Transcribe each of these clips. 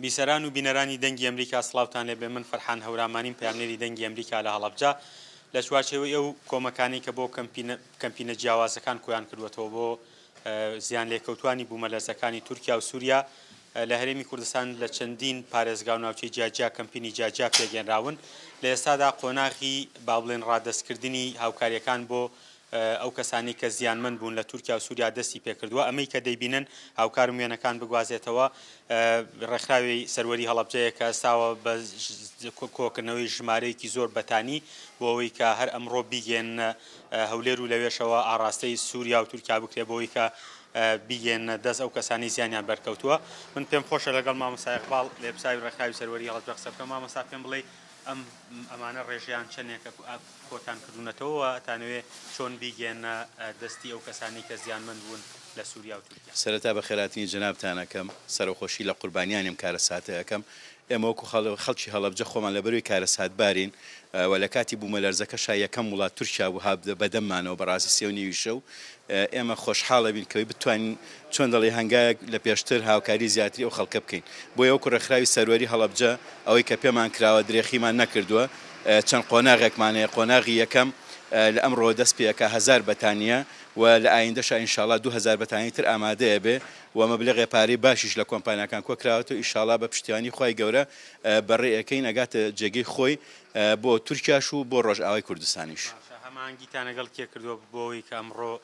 بیسەران و بینەرانی دەنگی ئەمریکا سڵاوتان لێبێ من فەرحان هەورامانیم پەیامنێری دەنگی ئەمریکا لە هەڵەبجە لە چوارچێوەی ئەو کۆمەکانەی کە بۆ کەمپینە کەمپینە جیاوازەکان کۆیان کردوەتەوە بۆ زیان لێکەوتوانی بوومەلەرزەکانی تورکیا و سووریا لە هەرێمی کوردستان لە چەندین پارێزگا و ناوچەی جیاجیا کەمپینی جیاجیا پێگەێنراون لە ئێستادا قۆناغی با بڵێن ڕادەستکردنی هاوکاریەکان بۆ ئەو کەسانەی کە زیانمەند بوون لە تورکیا و سوریا دەستی پێکردووە، ئەمەی کە دەیبینن هاوکارم وێنەکان بگوازێتەوە، ڕێکخراوی سەروەری هەڵەبجەیە کە ئەستاوە بە کۆکردنەوەی ژمارەیەکی زۆر بەتانی بۆ ئەوەی کە هەر ئەمڕۆ بیگەیەننە هەولێر و لەوێشەوە ئاڕاستەی سوریا و تورکیا بکرێت بۆ ئەوەی کە بیگەیەننە دەست ئەو کەسانەی زیانیان بەرکەوتووە. من پێم خۆشە لەگەڵ مامۆستا ئیقباڵ لێپساوی ڕێکخراوی سەروەری هەڵەبجە قسە بکەم. مامۆستا پێم بڵێی ئەم ئەمانە ڕێژەیان چەنێکە کۆتان کردونەتەوە و ئەتانەوێ چۆن بیگەیەننە دەستی ئەو کەسانەی کە زیانمەند بوون لە سوریا و تورکیا؟ سەرەتا بەخێراتنی جەنابتان ئەکەم، سەرەخۆشی لە قوربانیانی ئەم کارەساتە ئەکەم، ئێمە وەکو خەڵکی هەڵەبجە خۆمان لەبەروی کارەساتبارین و لە کاتی بومەلەرزەکەشا یەکەم وڵات تورکیا بوو هات بەدەممانەوە بەڕاستی سێو نیوی شەو ئێمە خۆشحاڵەبین کەوەی بتوانین چۆن دەڵێی هەنگاوێک لە پێشتر هاوکاری زیاتری ئەو خەڵکە بکەین بۆیە وەکو ڕێکخراوی سەروەری هەڵەبجە ئەوەی کە پێمان کراوە درێخیمان نەکردووە چەند قۆناغێکمان هەیە قۆناغی یەکەم لە ئەمڕۆوە دەست پێ ئەکا هەزار بەتانیە و لە ئایندەشا ئینشاڵا دوو هەزار بەتانی تر ئامادە ئەبێ و مەبلەغێ پارەی باشیش لە کۆمپانیاکان کۆ کراوەتەوە ئیشاڵا بە پشتیوانی خوای گەورە بەڕێ ئەکەین ئەگاتە جێگەی خۆی بۆ تورکیاش و بۆ ڕۆژئاوای کوردستانیش. باشە هەماهەنگیتان لەگەڵ کێ کردووە بۆ ئەوەی کە ئەمڕۆ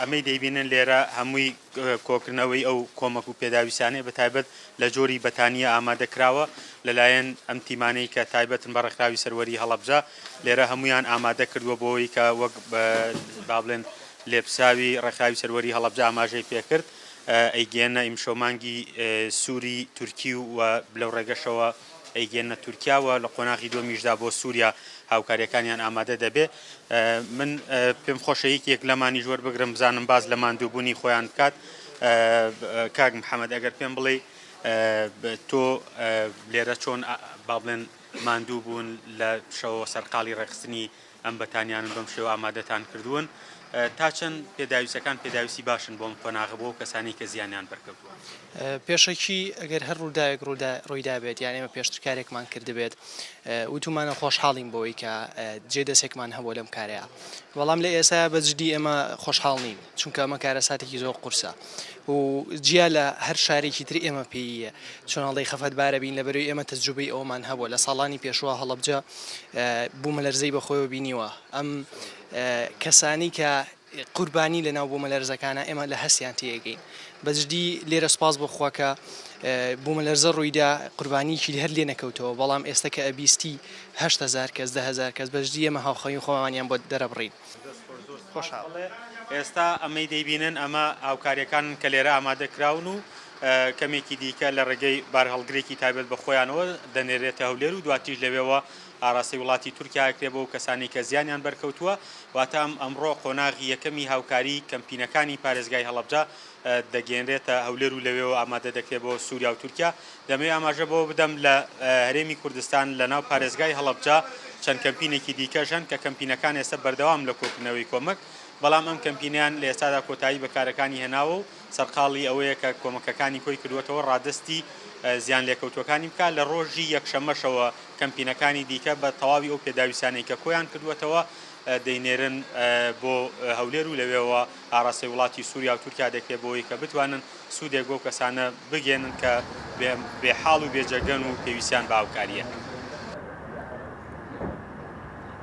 ئەمەی دەیبینن لێرە هەمووی کۆکردنەوەی ئەو کۆمەک و پێداویستانەیە بە تایبەت لە جۆری بەتانییە ئامادە کراوە لەلایەن ئەم تیمانەی کە تایبەتن بە ڕێکخراوی سەروەری هەڵەبجە لێرە هەموویان ئامادە کردووە بۆی کە وەک با بڵێن لێپساوی ڕێکخراوی سەروەری هەڵەبجە ئاماژەی پێکرد ئەیگێنە ئیمشەو مانگی سووری تورکی و لەو ڕێگەشەوە ئەیگەنە تورکیا و لە قۆناغی دووەمیشدا بۆ سوریا هاوکاریەکانیان ئامادە دەبێ من پێم خۆشە یەکێک لەمانیش وەربگرم بزانم باز لە ماندووبوونی خۆیان بکات کاک محەممەد ئەگەر پێم بڵێ تۆ لێرە چۆن با بڵێن ماندوو بوون لە شەوە سەرقاڵی ڕێخستنی ئەم بەتانیانەن بەم شێوە ئامادەتان کردوون تا چەند پێداویستەکان پێداویستی باشن بۆم قۆناغە بۆ کەسانی کە زیانیان بەرکەوتووە پێشەکی ئەگەر هەر ڕووداوێک ڕوودا ڕوویدابێت یان ئێمە پێشتر کارێکمان کردبێت وتومانە خۆشحاڵین بۆی کە جێ دەسێکمان هەبوو لەم کارەیە بەڵام لە ئێستا بەجددی ئێمە خۆشحاڵ نین چونکە ئەمە کارەساتێکی زۆر قورسە و جیا لە هەر شارێکی تر ئێمە پێیە چۆن هەڵی خەفەت بارە بین لە بەروی ئێمە تەجروبەی ئەومان هەبووە لە ساڵانی پێشوە هەڵبجە بوومە لەرزەی بەخۆیەوە بینیوە ئەم کەسانی کە قوربانی لە ناو بوومە لەرزەکانە ئێمە لە هەستیان تێگەین بەجددی لێرە سپاس بخواکە بوومە لەرزە ڕوویدا قوربانیکی هەر لێ نەکەوتەوە بەڵام ئێستا کە ئەبیستی هزار کەس دههزار کەس بەجددی ئەمە هاوخەی خۆمانیان بۆ دەرەبڕین دەست خۆش زۆر سوپاس بەڵێ ئێستا ئەمەی دەیبینن ئەمە هاوکاریەکانن کە لێرە ئامادە کراون و کەمێکی دیکە لە ڕێگەی بارهەڵگرێکی تابێت بە خۆیانەوە دەنێرێتە هەولێر و دواتیش لەوێەوە ئاراسی وڵاتی تورکیاکرێ بۆ کەسانی کە زیانیان بەرکەوتووە واتام ئەمڕۆ قۆناغی یەکەمی هاوکاری کەمپینەکانی پارێزگای هەڵبجە دەگەیەنرێتە هەولێر و لەوێوە ئامادە دەکرێت بۆ سوریا و تورکیا. دەمەوێت ئاماژە بەوە بدەم لە هەرێمی کوردستان لە ناو پارێزگای هەڵەبجە چەند کەمپینێکی دیکەش هەن کە کەمپینەکان ئێستا بەردەوامن لە کۆکردنەوەی کۆمەک، بەڵام ئەم کەمپینەیان لە ئێستادا کۆتایی بە کارەکانی هێناوە و سەرقاڵی ئەوەیە کە کۆمەکەکانی کۆی کردووەتەوە ڕادەستی زیان لێکەوتووەکانی بکات. لە ڕۆژی یەکشەممەشەوە کەمپینەکانی دیکە بە تەواوی ئەو پێداویستانەی کە کۆیان کردووەتەوە دەینێرن بۆ هەولێر و لەوێوە ئاڕاستەی وڵاتی سوریا و تورکیا دەکرێت بۆوەی کە بتوانن سودێک بەو کەسانە بگەیەنن کە بێ حاڵ و بێ جەرگەن و پێویستیان بە هاوکارییە.